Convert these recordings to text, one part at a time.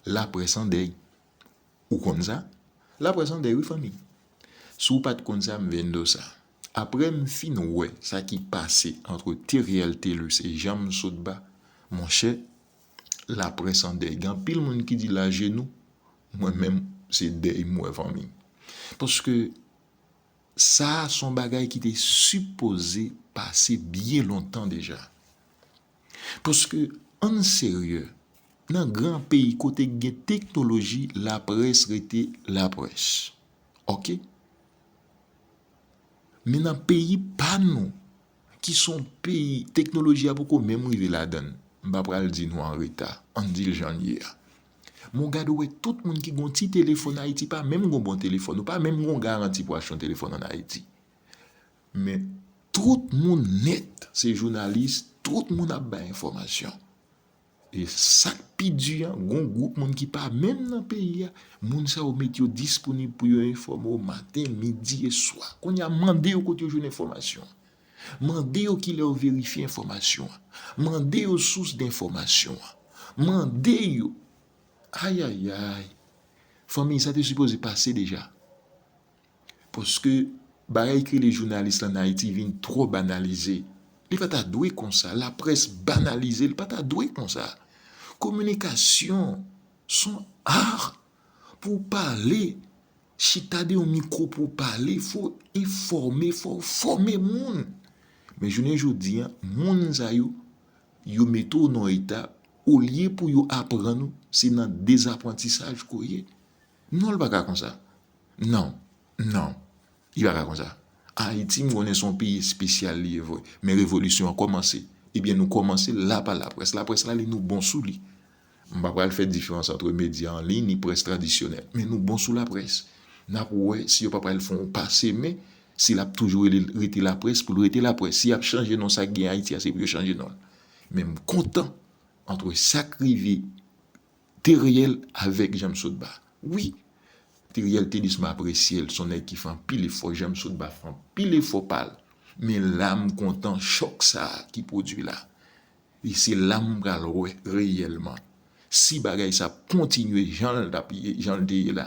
Laprès an dèy. Ou konn sa? Laprès an dèy wi fanmi. Si w pa t konn sa, m vin di w sa. Apre m fin wè sa ki pase antre Theriel Thelus e Jean Msotba, monchè, laprès an dèy. Gen anpil moun ki di l ajenou, mwen menm se dèy m wè fanmi. Paske sa a se yon bagay ki te sipoze pase byen lontan deja. Paske ann serye, nan gran peyi kote k gen teknoloji laprès rete laprès. Ok. Men nan peyi pa nou ki s on peyi teknoloji a poko menm rive ladan l, m pa pral di nou an reta, ann di l jan l ye a. Men w gade w wè tout moun ki gen yon ti telefòn Ayiti pa menm gen yon bon telefòn, yo pa menm gen yon garanti pou achte yon telefòn ann Ayiti. Men tout moun nèt se jounalis, tout moun ap bay enfòmasyon. E sak pi di an, gon gwoup moun ki pa menm nan peyi a, moun sa yo met yo disponib pou yo enfòme w maten, midi e swa. Kounye a mande yo kote yo jwenn enfòmasyon. Mande yo kilè yo verifye enfòmasyon an. Mande yo sous denfòmasyon an. Mande yo. Ayayay. Fanmiy sa te sipoze pase deja. Paske bagay ki rele jounalis la an Ayiti vin twò banalize. Li pa ta dwe konsa. Laprès banalize. Li pa ta dwe konsa. Kominikasyon son ar pou w pale. Chita de yon mikwo pou w pale. Fò w enfòme. Fò w fòme moun. Men jounen jodi an, moun sa yo, yo mete w nan yon eta, olye pou yo aprann ou, se nan dezaprantisaj ke w ye. Non li pa ka konsa. Non, non, li pa ka konsa. Ayiti m konnen se yon peyi espesyal li ye vre, men revolisyon an kòmanse. Ebyen nou kòmanse l la pa laprès. Laprès la li nou bon sou li. M pa pral fè diferans antre medya an liy ni près tradisyonèl. Men nou bon sou laprès. N ap wè si yo pa pral fè yon pa se men, si l ap toujou rele l rete laprès pou l rete laprès. Si y ap chanje non sa k gen Ayiti a se pou yo chanje non l. Men m kontan antre sa k rive. Teriel avèg janm sot ba wi. Teriel Tedis m apresyel son nèg ki fè anpil efò janm sot ba fè anpil efò pal men la m kontan chòk sa ki pwodwi la e se la m pral wè reyèlman si bagay sa ap kontinye janl tap ye janl te ye la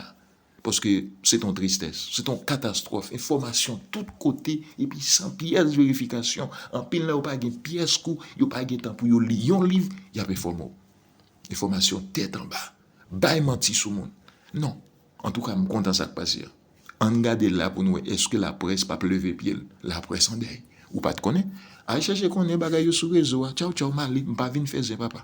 paske se t on tristès se t on katastwòf enfòmasyon tout kote epi san pyès verifikasyon anpil nan yo pa gen pyès kou yo pa gen tan pou yo li yon liv yap enfòme w. Enfòmasyon tèt anba, bay manti sou moun. Non, antouka m kontan sa k pase a. Ann gade la pou n wè èske laprès p ap leve pye l. Laprès an dèy. Ou pa t konnen? Al chèche konnen bagay yo sou rezo a. Tchaw tchaw Mali, m pa vin fè zen papa.